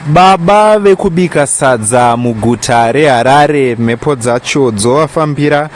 Baba vekubika sadza muguta reHarare mhepo dzacho dzovafambira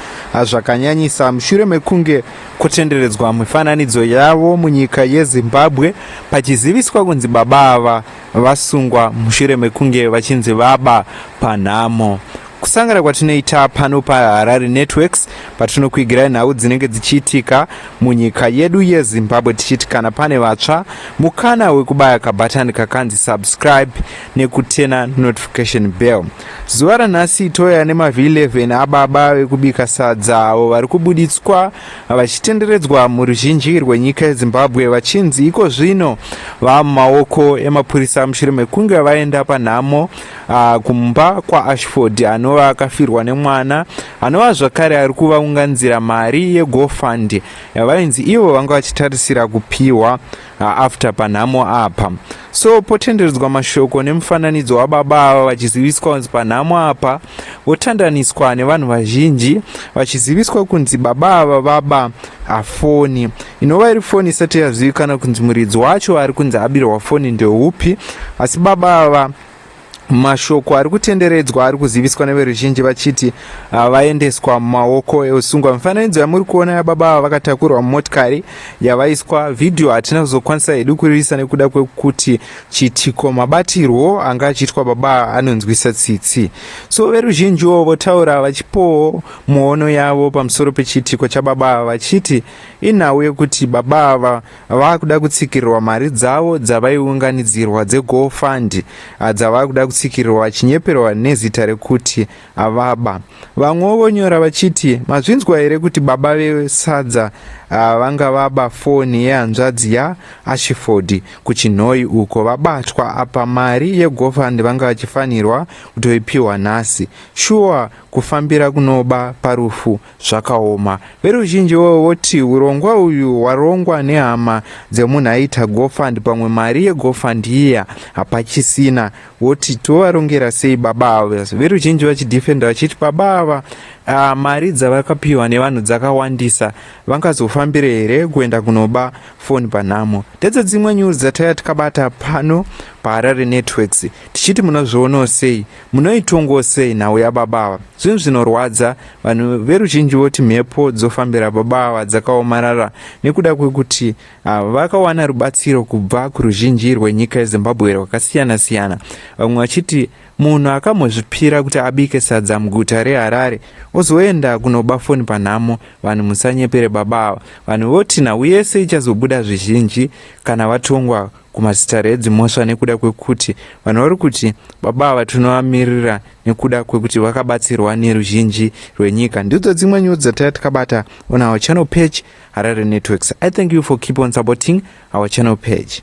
zvakanyanyisa mushure mekunge kutenderedzwa mifananidzo yavo munyika yeZimbabwe pachiziviswa kunzi baba ava vasungwa mushure mekunge vachinzi vaba panhamo. kusangana kwatinoita pano paharare networks patinokwigirai nhau dzinenge dzichiitika munyika yedu yezimbabwe tichiti kana pane vatsva mukana wekubaya kabhatani kakanzi subscribe nekutena notification bell zuva ranhasi toya nemavhi 11 ababa vekubika sadza avo vari kubuditswa vachitenderedzwa muruzhinji rwenyika yezimbabwe vachinzi iko zvino vava mumaoko emapurisa mushure mekunge vaenda panhamo Ah, kumba kwaashford anova akafirwa nemwana anova zvakare ari kuvaunganzira mari yegofund yavainzi ivo vanga vachitarisira kupiwa ah, after panhamo apa so potenderedzwa mashoko nemufananidzo wababa ava vachiziviswa kunzi panhamo apa votandaniswa nevanhu vazhinji vachiziviswa kunzi baba ava vaba afoni ah, inova iri foni isati yazivikana kunzi muridzi wacho ari kunzi abirwa foni ndeupi asi baba ava Mashoko ari kutenderedzwa ari kuziviswa neveruzhinji vachiti ah, vaendeswa mumaoko eusungwa. Mifananidzo yamuri kuona yababa ava vakatakurwa mumotikari yavaiswa vhidhiyo hatina kuzokwanisa hedu kuriisa nekuda kwekuti chiitiko mabatirwo anga achiitwa baba anonzwisa tsitsi. So veruzhinjiwo votaura vachipowo muono yavo pamusoro pechiitiko chababa ava vachiti inhau yekuti baba ava vakuda kutsikirirwa mari dzavo dzavaiunganidzirwa dzego fund ah, dzavakuda kutsikirirwa vachinyeperwa nezita rekuti avaba ah, vamwewo vonyora vachiti mazvinzwa here kuti baba vesadza ah, vanga vaba foni yehanzvadzi yaashiford kuchinhoi uko vabatwa apa mari yegofund vanga vachifanirwa kutoipiwa nhasi shuwa kufambira kunoba parufu zvakaoma. Veruzhinji ivovo voti urongwa uyu hwarongwa nehama dzemunhu aiita gofund pamwe mari yegofund iya hapachisina voti tovarongera sei baba ava. Veruzhinji vachidefenda vachiti baba ava uh, mari dzavakapiwa nevanhu dzakawandisa vangazofambire here kuenda kunoba foni panhamo. Ndedze dzimwe nyuzi dzataiva tikabata pano paHarare Networks tichiti munozvionawo sei Munoitongo sei nhau yababa ava? Zvinhu zvinorwadza, vanhu veruzhinji voti mhepo dzofambira baba ava dzakaomarara nekuda kwekuti ah, vakawana rubatsiro kubva kuruzhinji rwenyika yeZimbabwe rwakasiyana siyana, vamwe vachiti munhu akamhozvipira kuti abike sadza muguta reHarare ozoenda kunoba foni panhamo, vanhu musanyepere baba ava. Vanhu voti nhau yese ichazobuda zvizhinji kana vatongwa kumasitare edzimhosva nekuda kwekuti vanhu vari kuti baba ava tinovamirira nekuda kwekuti vakabatsirwa neruzhinji rwenyika ndidzo dzimwe nyuzi dzataya tikabata on our channel page harare networks i thank you for keep on supporting our channel page